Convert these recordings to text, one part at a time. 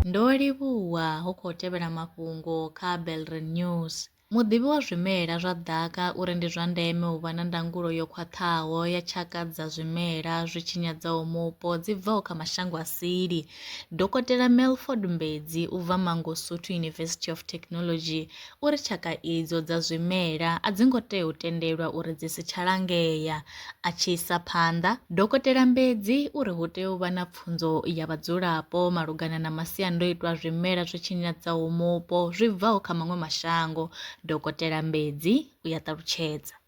Ndo livhuwa hu khou tevhela mafhungo kha Belren News. Muḓivhi wa zwimela zwa ḓaka uri ndi zwa ndeme u vha na ndangulo yo khwaṱhaho ya tshaka dza zwimela zwi tshinyadzaho mupo dzi bvaho kha mashango a sili. Dokotela Melford Mbedzi u bva Mangosuthu University of Technology uri tshaka idzo dza zwimela a dzi ngo tea u tendelwa uri dzi si tsha langea. A tshi isa phanḓa, Dokotela Mbedzi u ri hu tea u vha na pfunzo ya vhadzulapo malugana na masiandoitwa a zwimela zwi tshinyadzaho mupo zwi bvaho kha maṅwe mashango. Dokotela Mbedzi u ya ṱalutshedza.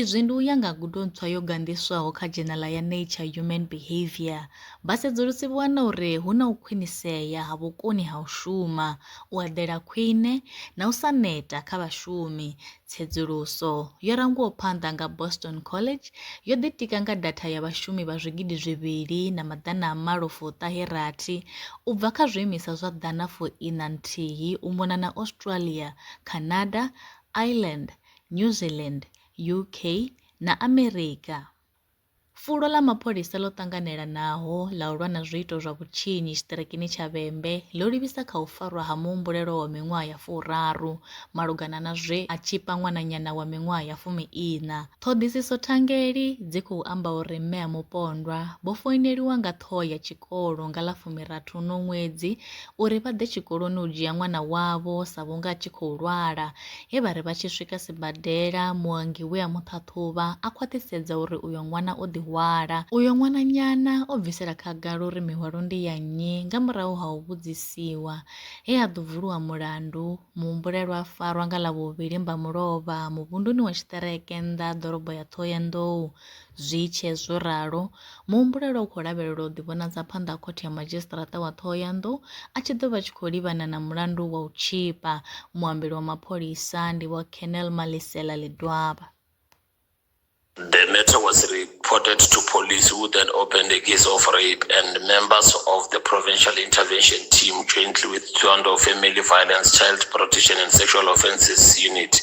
Izwi ndi u ya nga gudo ntswa yo ganḓiswaho kha dzhenala ya Nature Human Behaviour. Vhasedzulusi vho wana uri hu na u khwinisea ha vhukoni ha u shuma, u eḓela khwine, na u sa neta kha vhashumi. Tsedzuluso, yo rangwaho phanḓa nga Boston College, yo ḓitika nga datha ya vhashumi vha zwigidi zwivhili na maḓana a malo fu ṱahe rathi u bva kha zwiimiswa zwa ḓana fu iṋa nthihi u mona na Australia, Canada, Ireland, New Zealand, UK na Amerika. Fulo ḽa mapholisa ḽo ṱanganelanaho ḽa u lwa na zwiito zwa vhutshinyi tshiṱirikini tsha Vhembe ḽo livhisa kha u farwa ha muhumbulelwa wa miṅwaha ya furaru malugana na zwe a tshipa ṅwananyana wa miṅwaha ya fumi-iṋa. Ṱhoḓisiso thangeli dzi khou amba uri mme a mupondwa vho foineliwa nga ṱhoho ya tshikolo nga ḽa fumirathi uno ṅwedzi uri vha ḓe tshikoloni u dzhia ṅwana wavho sa vhunga a tshi khou lwala He vha ri vha tshi swika sibadela, muongi we a mu ṱhaṱhuvha a khwaṱhisedza uri uyo ṅwana o ḓi hwala. Uyo ṅwananyana o bvisela khagala uri mihwalo ndi ya nnyi nga murahu ha u vhudzisiwa. He ha ḓo vuliwa mulandu, muhumbulelwa a farwa nga Ḽavhuvhili Mbamulovha muvhunduni wa tshiṱereke nnḓa ha ḓorobo ya Ṱhohoyanḓou, Zwi tshee zwo ralo, muhumbulelwa u khou lavhelelwa u ḓivhonadza phanḓa ha Khothe ya Madzhisiṱaraṱa wa Ṱhohoyanḓou a tshi ḓo vha a tshi khou livhana na mulandu wa u tzhipa. Muambeli wa mapholisa ndi Vho Colonel Malisela Ledwaba. The matter was reported to police who then opened a case of rape and members of the Provincial Intervention Team jointly with Thohoyandou Family Violence, Child Protection and Sexual Offences Unit